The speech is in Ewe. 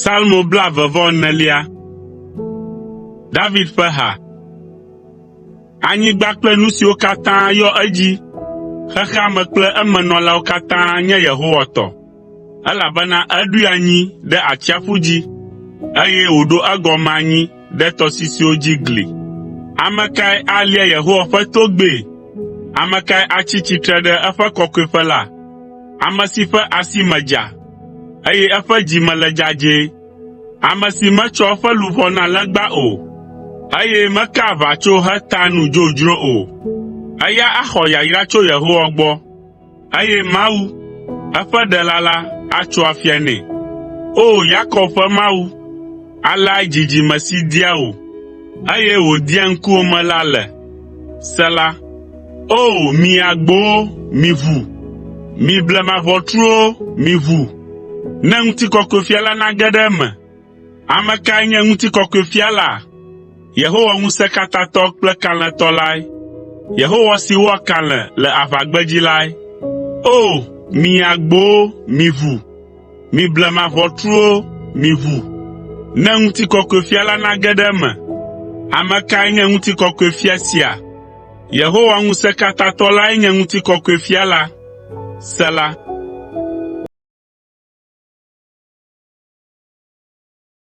Salmo blaeve vɔ enelia. David ƒe ha. Anyigba kple nu siwo katã yɔ edzi, xexea me kple eme nɔlawo katã nye Yehowa tɔ, elabena eɖoe anyi ɖe atsiaƒu dzi, eye wòɖo egɔme anyi ɖe tɔsisiwo dzi gli. Ame kae alia Yehowa ƒe togbɛ? Ame kae atsi tsitre ɖe eƒe kɔkɔeƒe la? Ame si ƒe asi me dza, eye eƒe dzi me le dzadzɛ, ame si metsɔ eƒe luʋɔ na legba o, eye mekaa aʋatso hetaa nu dzodzro o. Eya axɔ yayra tso Yehowa gbɔ. Eye Mawu, eƒe Ɖela la, atso afia nɛ. O! Yakob ƒe Mawu, aleae dzidzime si dia wò, eye wòdia ŋkuwòme la le. Sela O! Mi agbowo, miʋu, mi blema ʋɔtruwo, miʋu, ne ŋutikɔkɔefia la nage ɖe eme. Ame kae nye ŋutikɔkɔe fia la? Yehowa Ŋusẽkatãtɔ kple Kalẽtɔ lae, Yehowa si wɔa kalẽ le aʋagbedzi lae. O! Mi agbowo, miʋu! Mi blema ʋɔtruwo, miʋu! Ne ŋutikɔkɔe fia la nage ɖe eme. Ame kae nye ŋutikɔkɔe fia sia? Yehowa Ŋusẽkatãtɔ lae nye ŋutikɔkɔe Fia la. Sela